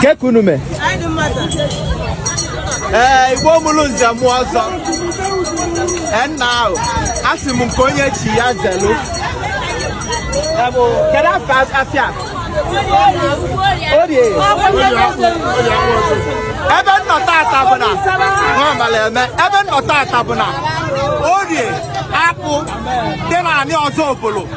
kekunume ee eh, igbo mụlụ nze mụ ọzọ and now asị m nke onye chi ya zelu eh, kedu afọ afịa Orie ebe m nọ tata bụ na nwaamala eme ebe m nọ tata bụ na Orie Akpụ dị na anị Ọzubulu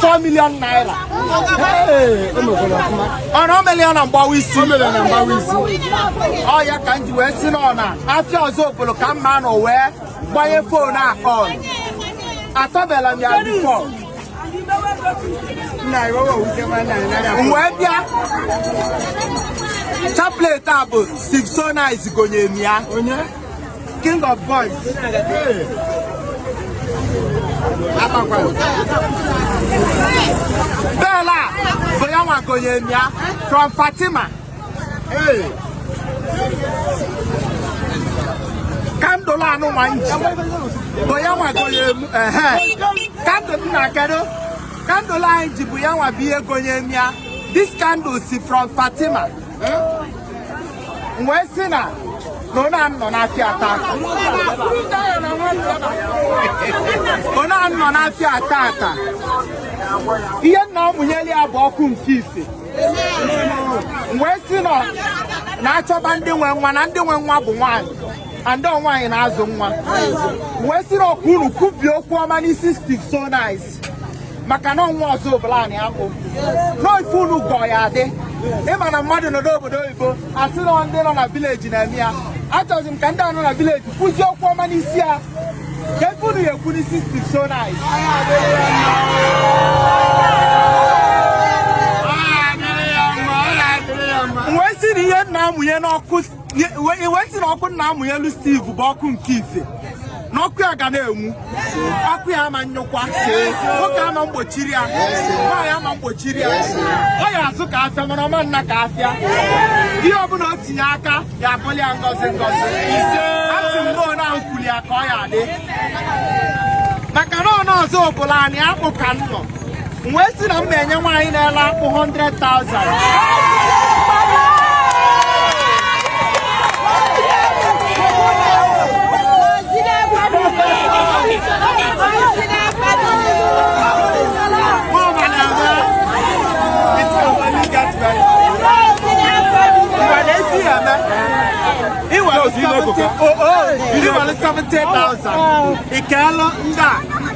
4 million naira ọnụ o mere ya na mgbawa isi ọ ya ka m ji wee sị n'ọ na afịa Ọzubulu ka m ma nọ wee gbanye phone a on atọbela m ya before m wee bịa chaplet a bụ Steve so nice gonye m ya King of boys. Bell a bụ ya nwa gonye m ya from Fatima. Hey. Candle a mụ nwa ji bụ ya nwa gonye mụ. Candle na kedu? Candle anyị ji bụ ya nwa bụ ihe gonye m ya. This candle is from Fatima. wee sị na na ọ na-anọ n'afịa a tata ọ na-anọ n'afịa a tata ihe m na-amụnyeli ya bụ ọkụ nke ife wee sị na na-achọba ndị nwe nwa na ndị nwe nwa bụ nwaanyị ọ ndị nwaanyị na-azụ nwa wee sị na ka unu kwubie okwu ọma n'isi Steve so nice maka na ọ nwa Ọzubulu anị akpụ n'ife unu gọ ya-adị ị ma na mmadụ nọ n'obodo oyibo a sị na ndị nọ na village na-eme ya achọzi m ka ndị a nọ na village kwuzie okwu ọma n'isi ya ka ife unu ya-ekwu n'isi Steve so nice wee sị na ihe m na-amụnye n'ọkụ wee sị na ọkụ m na-amụnyelu Steve bụ ọkụ nke ife na ọkụ ya ga na-enwu ọkụ ya ama nyụkwa nwoke ama mgbochiri ya nwaanyị ama mgbochiri ya ọ ya-azụ ka afịa mana ọ ma nna ka afịa ihe ọbụla o tinye aka ya abụli ya ngozi ngozi asị m na onye ahụ kwuli ya ka ọ ya-adị maka na ọ na Ọzubulu anị akpụ ka m nọ m wee sị na m na-enye nwaanyị na-ele akpụ 100,000 i were 70,000 ị keelụ ndị a